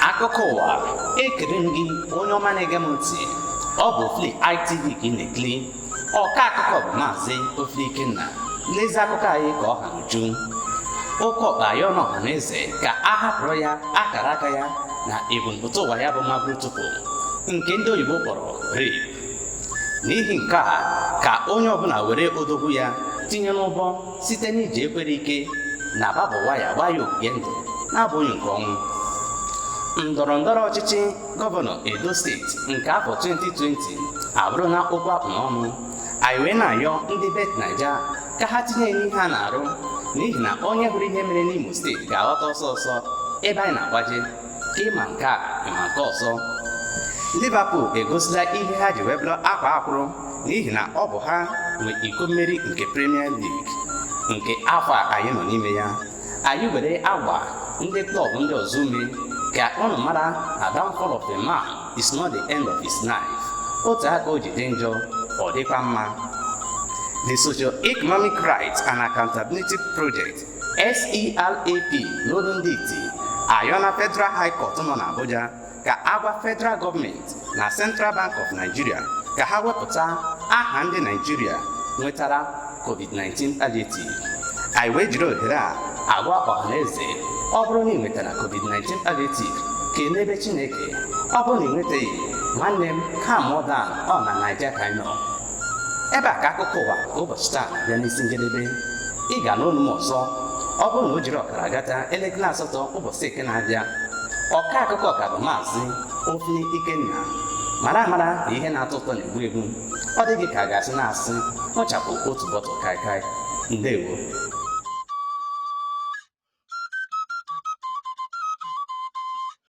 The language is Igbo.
akụkọ ụwa ekele m gị onye ọma na-ege m ntị ọ bụ Ofili ITV ka ị na-ekiri ọka akụkọ bụ maazị Ofili Ikenna n'ezi akụkọ anyị ka ọ ha n'uju oke ọkpa ayọla ọha na eze ka a hapụrụ ya akara aka ya na ebumpụta ụwa ya bụ mabụrụ tupu nke ndị oyibo kpọrọ rape n'ihi nke a ka onye ọbụla were odogwu ya tinye n'ọbọ site n'iji ekwere ike na barb wire gbaa ya ogige ndụ na-abụghị nke ọnwụ ndọrọ ndọrọ ọchịchị gọvanọ edo steeti nke afọ 2020 abụrụla okwu a kpụ n'ọnụ anyị wee na-ayọ ndị bet naija ka ha tinye n'ihe ha na-arụ n'ihi na onye hụrụ ihe mere n'imo steeti ga-aghọta ọsọ ọsọ ebe anyị na-agbaje ịma nke a ịma nke ọzọ Liverpool egosila ihe ha ji wee bụrụ akwaa akwụrụ n'ihi na ọ bụ ha nwe iko mmeri nke Premier League nke afọ a anyị nọ n'ime ya anyị were agba ndị klọb ndị ọzọ ume ka ụnụ mara na downfall of a man is not the end of his life otu aka o ji dị njọ ọ dịkwa mma the socio-economic rights and accountability project SERAP n'olu ndị iti ayọla Federal High Court nọ n'Abuja ka a gwa Federal gọọmenti na Central Bank of Nigeria ka ha wepụta aha ndị Naijiria nwetara COVID-19 palliative anyị wee jiri ohere a agwa ọhaneze ọ bụrụ na ị nwetara COVID-19 palliative kelebe Chineke ọ bụrụ na ị nwetaghị nwanne m calm down ọ na Naija ka anyị nọ ebe a ka akụkọ ụwa nke ụbọchị taa bịa n'isi njedebe ị ga-anụ olu m ọzọ ọ bụrụ na o jiri ọkara gata elekere asatọ ụbọchị eke na-abịa ọka akụkọ ka bụ maazị Ofili Ikenna mara amara na ihe na-atọ ụtọ na-egbu egbu ọ dịghị ka a ga-asị na-asị ṅụchapụ otu bọtụl kaikai ndewo